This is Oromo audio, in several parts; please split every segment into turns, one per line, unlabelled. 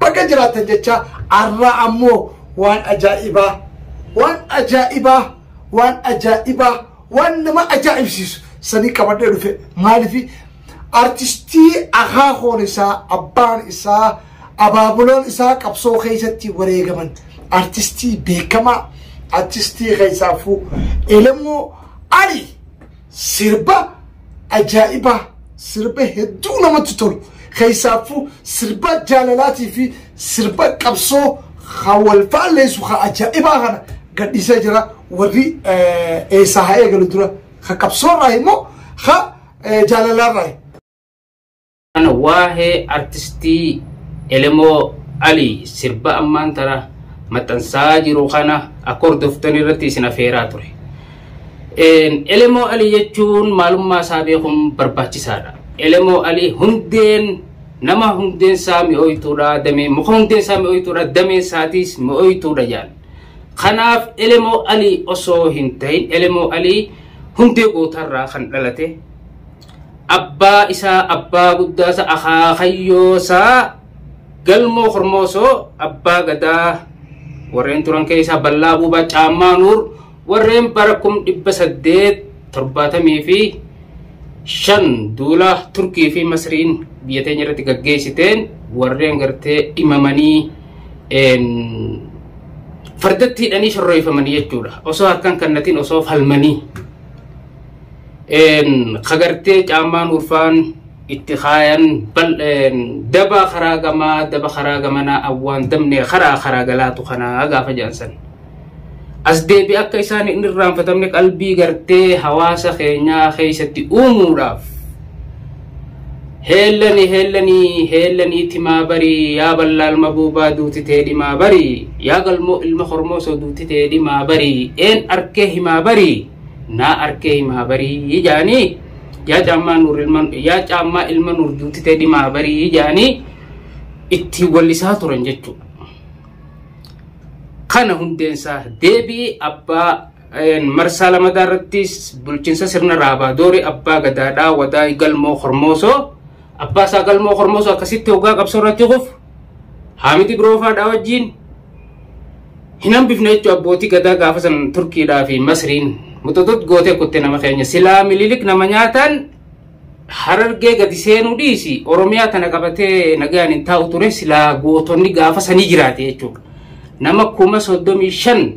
Baga jiraattan jechaa arraa ammoo waan ajaa'ibaa waan ajaa'ibaa waan ajaa'ibaa waan nama ajaa'ibsiisu sanii qabadhee dhufe maalifi artistii akaakoon isaa abbaan isaa abaabuloon isaa qabsoo keessatti wareegaman artistii beekamaa artistii keessaafuu elemoo ali Sirba ajaa'ibaa, sirba hedduu namatti tolu, keessaaffuu sirba jaalalaatii fi sirba qabsoo kan wal faalleessu kan ajaa'ibaa kana gadhiisee jira. Warri eessaa haa eegalu dura? Kan qabsoorraa immoo kan jaalalaarraa?
Kana waahee artistii Elemoo Ali sirba ammaan tana maxxansaa jiru kana akka hordoftan irratti isin afeeraa ture. Elemoo Ali jechuun maalummaa isaa beekuun barbaachisaadha. Elemoo Ali hundeen nama hundeen isaa mi'ooytuudha damee muka hundeen isaa mi'ooytuudha damee isaatiis mi'ooytuudha jedhan. Kanaaf Elemoo Ali osoo hin ta'in Elemoo Ali hundee gootarraa kan dhalate abbaa isaa abbaa guddaa isaa akaakayyoo isaa galmoo kormoosoo abbaa gadaa warreen turan keessaa ballaa buubaa caammaa nuur warreen bara kum dhibba saddeet torbaatamii fi shan duula turkii fi masriin biyya teenya irratti gaggeessiteen warreen gartee dhimamanii fardatti hidhanii shorreeffamanii jechuudha osoo harkaan kannatiin osoo falmanii kagartee caammaan urfaan itti kaayan daba karaa gamaa daba karaa gamanaa awwaan dabnee karaa karaa galaatu kanaa gaafa jaansan. As deebi akka isaan hin irraanfatamne qalbii gartee hawaasa keenyaa keessatti uumuudhaaf heellani heellani heellani timaa barii yaa ballaa ilma buubaa duuti tee dhimaa barii yaa galmoo ilma hormoosoo duuti tee dhimaa barii een arkee himaa barii. naa arkee himaa barii jaanii yaa caammaa nuur ilma yaa caammaa ilma nuur duutitee dhimaa barii jaanii ittiin wallisaa turan jechuudha. Kana hundeensaa deebii abbaa marsaa lamataa irrattis bulchiinsa sirna raabaa doori abbaa gadaadhaa wadaa galmoo hormoosoo abbaa isaa galmoo hormoosoo akkasitti hoggaa qabsoo irratti kufu Haamiti Biroofaadhaa wajjiin hin hambifne jechuun abbootii gadaa gaafa san Turkiidhaa fi Masriin muxuxut gootee kutte nama keenya silaa mililik nama nyaataan harargee gadi seenuu dhiisi Oromiyaa tana qabatee nagaan hin taa'u ture silaa gootonni gaafa sanii jiraate jechuudha. Nama kuma soddomii shan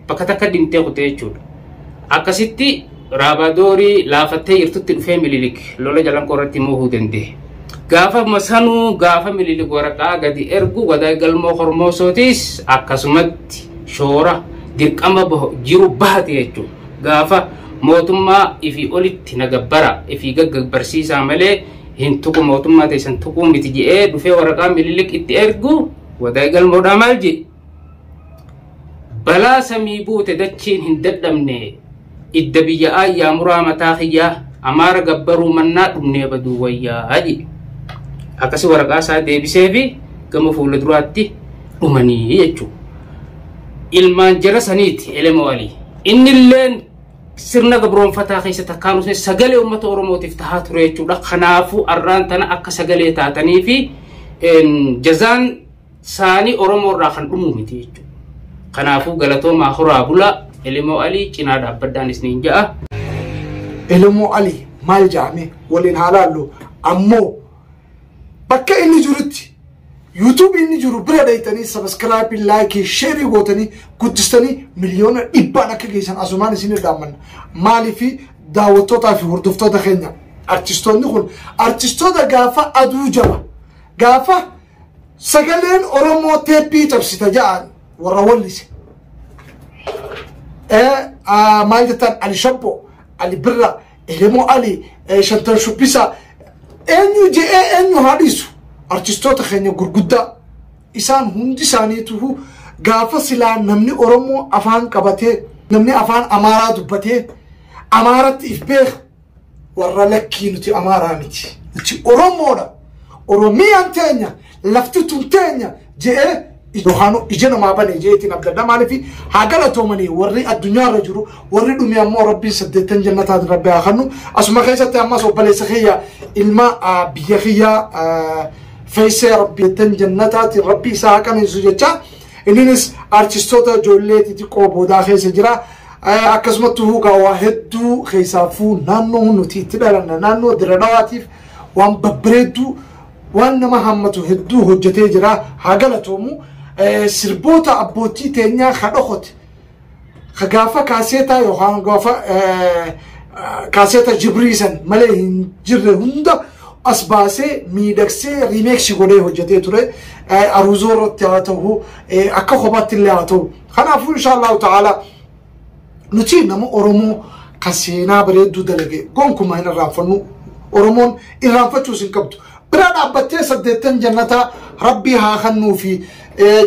bakka takka dhimtee kutee jechuudha. Akkasitti raabadoorii laafattee jirtutti dhufee mililik lola jalanqoo irratti moohuu danda'e. Gaafa masanuu gaafa mililik waraqaa gadi ergu wadaay galmoo kormoosootis akkasumatti shoora dirqama jiru bahate jechuudha. Gaafa mootummaa ifii olitti na gabbara ifii gaggabbarsiisaa malee hin tuqu mootummaa teessan tuquu miti jedhee dhufee waraqaa mililik itti ergu wadaay galmoodhaa maal jedhe. balaa samii buute dachiin hin dadhabne idda biyya aayyaa muraa mataa kiyyaa amaara gabbaruu mannaa dhumnee baduu wayyaa jedhe akkasi waraqaa isaa deebisee fi gama fuula duraatti dhumanii jechuudha. Ilmaan jara saniiti elemoo alii. Inni illeen sirna gabroonfataa keessa takkaan dhufne sagalee uummata Oromootiif tahaa ture jechuudha. Kanaafuu arraan tana akka sagalee taatanii fi jazaan saanii Oromoo irraa kan dhumuu miti jechuudha. Kanaafuu galatoomaa horaa bulaa Elemoo Alii cinaa dhaabbadhaan isniin ja'a.
Elemoo Alii maal jaame waliin haa laallu ammoo bakka inni jirutti yuutuubii inni jiru bira dhayxanii sabaskiraabii laayikii sheerii gootanii guddistanii miliyoona dhibbaan akka geessan asumaan isin irraammanna maaliifi daawwattootaa fi hordoftoota keenya artistoonni kun artistoota gaafa aduu jaba gaafa Sagaleen Oromoo teeppii cabsita ja'an warra wallise. Maal jettan Ali Shabbo, Ali Birra, Elemoo Ali, Shantan Shubbisa, eenyu je'ee eenyu haa dhiisu. Artistoota keenya gurguddaa isaan hundi isaaniitu gaafa silaa namni Oromoo afaan qabatee namni afaan Amaaraa dubbatee Amaaratti if beeku warra lakkii nuti amaaraa miti nuti oromoodha oromiyaan teenya lafti tun teenya je'ee yohaanu ija namaa bane jeetiin abdadha maaliif haa galatoomanii warri addunyaa irra jiru warri dhumi ammoo rabbiin saddeettan jannataatiin rabbi haa kennu asuma keessatti ammas obboleessa kiyya ilma ah, biyya kiyya ah, feessee rabbiittan jannataatiin rabbi isaa haa qananiisu jecha Inninis artistoota ijoollee xixiqqoo boodaa keessa jira. Akkasumatti huugaa waa hedduu keessaafuu naannoo nuti itti dhalanne naannoo diradhawaatiif waan babbareedduu waan nama hammatu hedduu hojjetee jira. Haa galatoomu sirboota abbootii teenyaa haa dhokote. ka gaafa kaaseetaa yookaan gaafa kaaseeta jibrii san malee hin jirre hunda as baasee miidhagsee riimeeksi godhee hojjetee ture aruuzoo irratti haa ta'u akka kophaatti illee haa ta'u kanaafuu inshaallahu ta'ala nuti nama oromoo ka seenaa bareedduu dalage gonkumaa hin irraanfannu oromoon irraanfachuus hin qabdu bira dhaabbattee saddeettan jannataa rabbii haa kennuu fi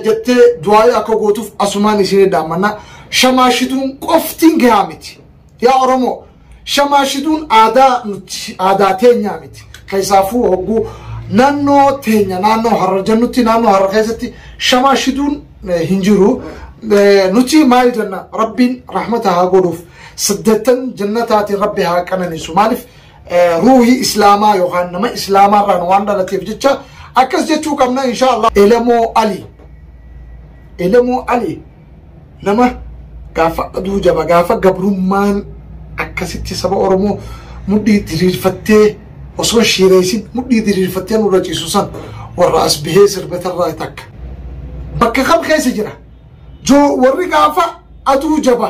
jettee du'aa'ii akka gootuuf asumaan isinii dhaammanna. Shamaashituun qoftiin gahaa miti. Yaa Oromoo shamaashituun aadaa nuti aadaa teenyaa miti. Keessaafuu hogguu naannoo teenya naannoo har'a jennutti naannoo har'a keessatti shamaashituun hin jiru. Nuti maal jenna rabbiin rahmata haa godhuuf. Saddeettan jannataatiin rabbi haa qananiisu. Maaliif? ruuhii islaamaa yookaan nama islaamaa irraan waan dhalateef jecha akkas jechuu qabna insha Allah elemoo ali elemoo ali nama gaafa aduu jaba gaafa gabrummaan akkasitti saba oromoo mudhii diriirfattee osoo shiireysin mudhii diriirfattee nurra ciisu san warra as bihee sirbatarraa takka bakka kam keessa jira joo warri gaafa aduu jaba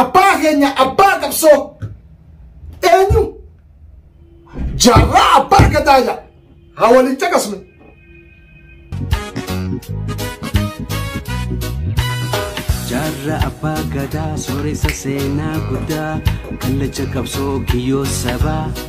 Abbaa keenya abbaa qabsoo eenyu jaarraa abbaa gadaa jedha haa waliin caqasnu.
Jaarra abbaa gadaa sooressa seenaa guddaa kallacha qabsoo kiyyoo sabaa.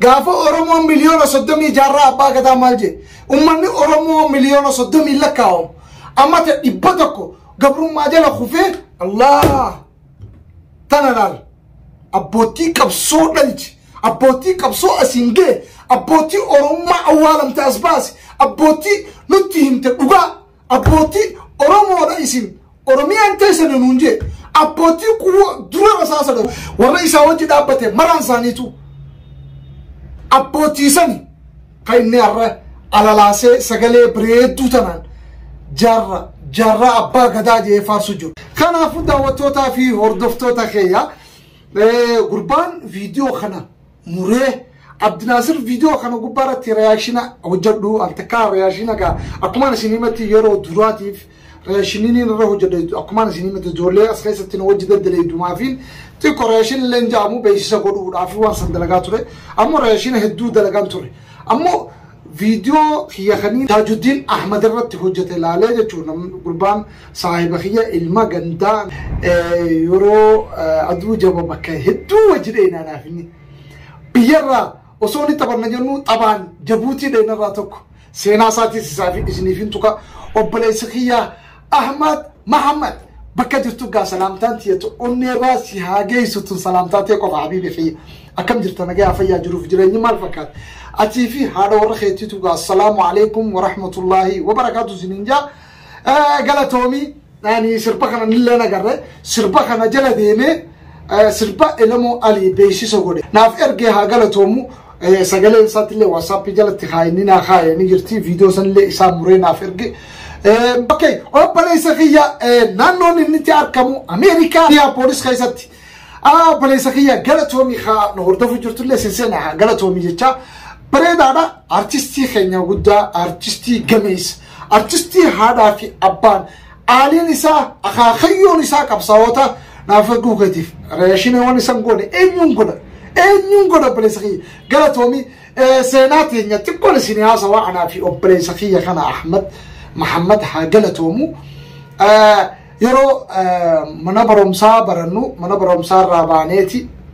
Gaafa Oromoon miliyoona soddomii jaarraa abbaa gadaa maal jee? Ummanni Oromoo miliyoona soddomii lakkaa'amu. Amma ta dhibba tokko gabrummaa jala kufee Allah tana laal. Abbootii qabsoo dhalchi. Abbootii qabsoo asiin ga'e. Abbootii Oromummaa awwaalamte as baase. Abbootii nutti himte dhugaa. Abbootii Oromoodha isin Oromiyaan teessana nuun jee abbootii kuwwa dura rasaasa dhabu warra isaa wajji dhaabbate maraan isaaniitu abbootii sani kan inni har'a alalaasee sagalee bareedduu tanaan jaarra jaarraa abbaa gadaa jee faarsu jiru. Kanaafuu daawwattootaa fi hordoftoota keenya gurbaan viidiyoo kana muree Abdinaasir viidiyoo kana gubbaa irratti reyaakshina hojjedhu al takkaa reyaakshina gaa akkumaan isin himatti yeroo duraatiif reyaakshiniin irra hojjedha akkumaan isin himatti ijoollee as keessatti na wajji daddalaydumaa fi xiqqoo reyaakshina illee hin ja'amu beeksisa godhuudhaaf waan san dalagaa ture ammoo reyaakshina hedduu dalagaan ture ammoo Video kiyya kanii Tajuddin Ahmed irratti hojjate laalee jechuun namni gurbaan saahiba kiyya ilma gandaa. Yeroo aduu jaba bakka hedduu wajji dheeyna anaaf inni. Biyyarraa osoo ni taphanna jennu taphaan jabuutii dheeynarraa tokko seenaa isaatiis isaaf isiniif hin tuqa obboleessa kiyya Ahmad Mahammad bakka jirtu gaa salaamtaan tiyatu onneerraa si haa geessu tun salaamtaa tee qofa habiibi kiyya akkam jirta nagayaa fayyaa jiruuf jireenyi maal fakkaata atii fi haadha warra keetiitu gaa assalaamu alaikum warahmatullaahi wabarakaatu siniin jaa galatoomii ani sirba kana nillee nagarre sirba kana jala deemee sirba elemoo alii beeksisa godhe naaf ergee haa galatoomu sagalee isaattillee waatsaappii jalatti kaayinni naa kaayee ni jirti viidiyoo sanillee isaa muree naaf erge. Ok, obboleessa kiyya naannoon inni itti argamu Ameerikaa biyya poolis keessatti. Obboleessa kiyya galatoomii haa nu hordofuu jirtullee seenseena haa galatoomii jechaa. Bareedaadha artistii keenya guddaa artistii gameessa artistii haadhaa fi abbaan Aaliin isaa akaakayyoon isaa qabsaa'oota naaf eeguu keetiif reeshinee waan isan goone eenyuun godha eenyuun godha obboleessa kiyya galatoomi seenaa teenya xiqqoon isin haasawaa anaa fi obboleessa kiyya kana Ahmad Mahammad haa galatoomu yeroo mana barumsaa barannu mana barumsaa irraa baaneeti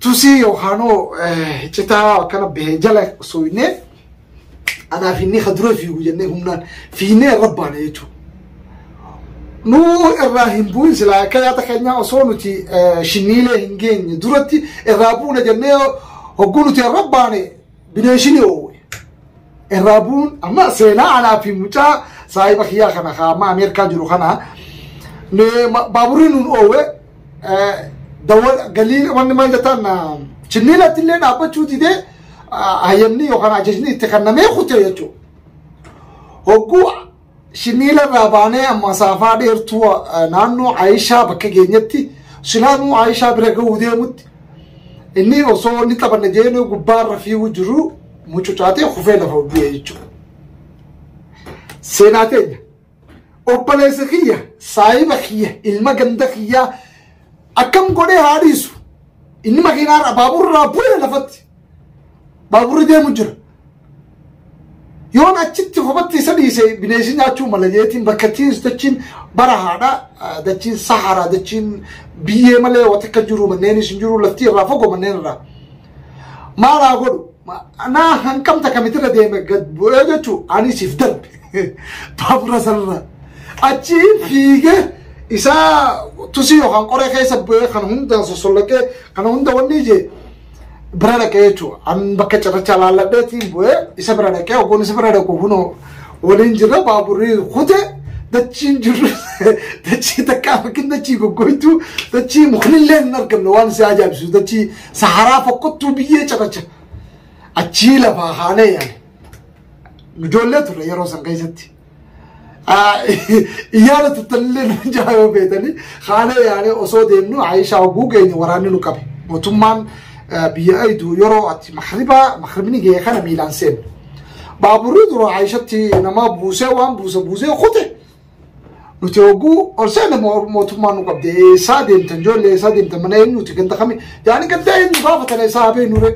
tusii yookaan hoo citaa akkana bahee jala osoo hinnee anaa fiinnee ka dura fiigu jennee humnaan fiinnee irra baane jechuudha. Nu irraa hin bu'in silaa akka yaada keenyaa osoo nuti shinniilee hin geenye duratti irraa buuna jennee hogguu nuti irra baane Bineensii ni oowwe. Irraa bu'uun amma seenaa anaa fi mucaa saahiba kiyyaa kana kaa amma Ameerikaa jiru kana ni- ma- baaburri nuun oowwe eh, dawwa- galii wanni maal jettaan ah, chinniilatti illee dhaabbachuu didee ah, hayyamni yookaan ajajni itti kennamee kute jechuudha. Hogguu Shiniila irraa baanee amma saafaa dheertuu eh, naannoo Ayishaa bakka geenyetti silaanuu Ayishaa bira ga'uu deemutti inni osoo inni taphanna jeenuu gubbaa irra fiiguu jiru mucucaatee kufee lafa bu'ee jechuudha. Seenaa teenya obboleessa kiyya saahiba kiyya ilma ganda kiyyaa akkam godhee haa dhiisu inni makiinaa irraa baaburraa bu'ee lafatti baaburri deemu jira. yoon achitti kopatti isa dhiise bineensii nyaachuu mala jeetiin bakka tiins dachiin bara haadha dachiin saharaa dachiin biyyee malee wata akka jiru manneenis hin jiru laftii irraa fagoo manneen irraa maalaa godhu naa hanqamta kamitirra deeme gad bu'ee jechuu ani siif darbe baabura sanarra achi fiige isaa tusii yookaan qoree keessa bu'ee kan hundaan sosollaqee kana hunda wanni ijee bira dhaqee jechuudha. An bakka cirrachaa laalladheetiin bu'ee isa bira dhaqee oggoon isa bira dhaqu kunoo waliin jirra baaburri kute dachiin jirru dachii takkaa fakkiin dachii goggoytuu dachii muknillee hin argamne waan si ajaa'ibsu dachii saharaa fokkottuu biyyee cirracha achii lafaa haanee yaane. Ijoollee turre yeroo san keessatti. Iyyaana tuttallee nu jaa yoo beetanii haalee yaanee osoo deemnu Aayishaa hogguu geenye waraanni nu qabe. Mootummaan biyya aydu yeroo ati makribaa makribni ga'e kana miilaan seenu. Baaburri dura Aayishatti nama buusee waan buuse buusee kute. Nuti hogguu ol seena mootummaan nu qabde eessaa deemtan ijoollee eessaa deemtan mana eenyuuti ganda kami yaani ganda eenyu gaafatana isaa habee nuree.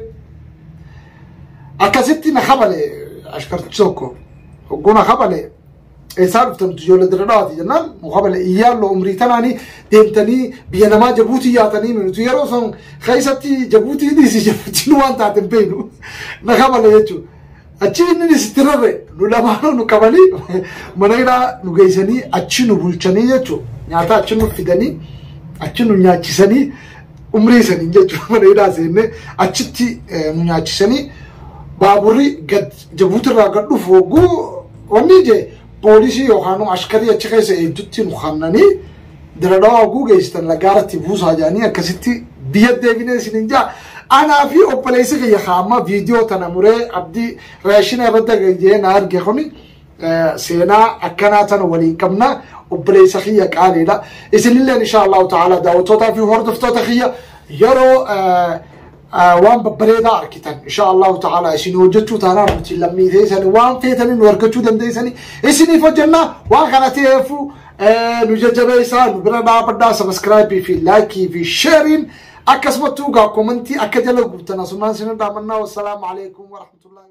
Akkasitti na kabale ashkartichi tokko. Hogguu na kabale eessaa dhuftamtu ijoollee dirree dhawaati jennaan nu kabale iyyaallo umrii tanaanii deemtanii biyya namaa jabuutii yaatanii nuti yeroo san keessatti jabuutii dhiisi jabuutiin waan taate hin beeknu na kabale jechuudha. Achi inni dhisitti rarre nu lamaanuu nu qabanii mana hidhaa nu geessanii achi nu bulchanii jechuudha. Nyaata achi nu fidanii achi nu nyaachisanii umrii saniin jechuudha mana hidhaa seennee achitti nu nyaachisanii baaburri gad jabuutirraa gad dhufu hogguu wanni je poolisii yookaan ashkarii achi keessa eegdutti nu kannanii diradawaa hogguu geessitan lagaaratti buusaa jedhanii akkasitti biyya deebinee isinin jaa anaa fi obboleessi kiyya kaamma viidiyoo tana muree abdii raashina irratti gajjee na arge kuni seenaa akkanaa tana waliin qabna obboleessa kiyya qaaliidha isinilleen insha allahu ta'ala daawwattootaa fi hordoftoota kiyya yeroo waan babbareedaa argitan insha allahu ta'ala isin hojjechuu taanaa nuti lammii teessani waan feetanii nu argachuu dandeessani isiniif hojjennaa waan kana ta'eefu nu jajjabeessaa nu bira dhaabadhaa sabiskiraayibii fi laayikii fi sheeriin akkasumattuu gaa koomantii akka jala guutan asumaan isin dhaamannaa wassalaamu alaikum warahmatullahi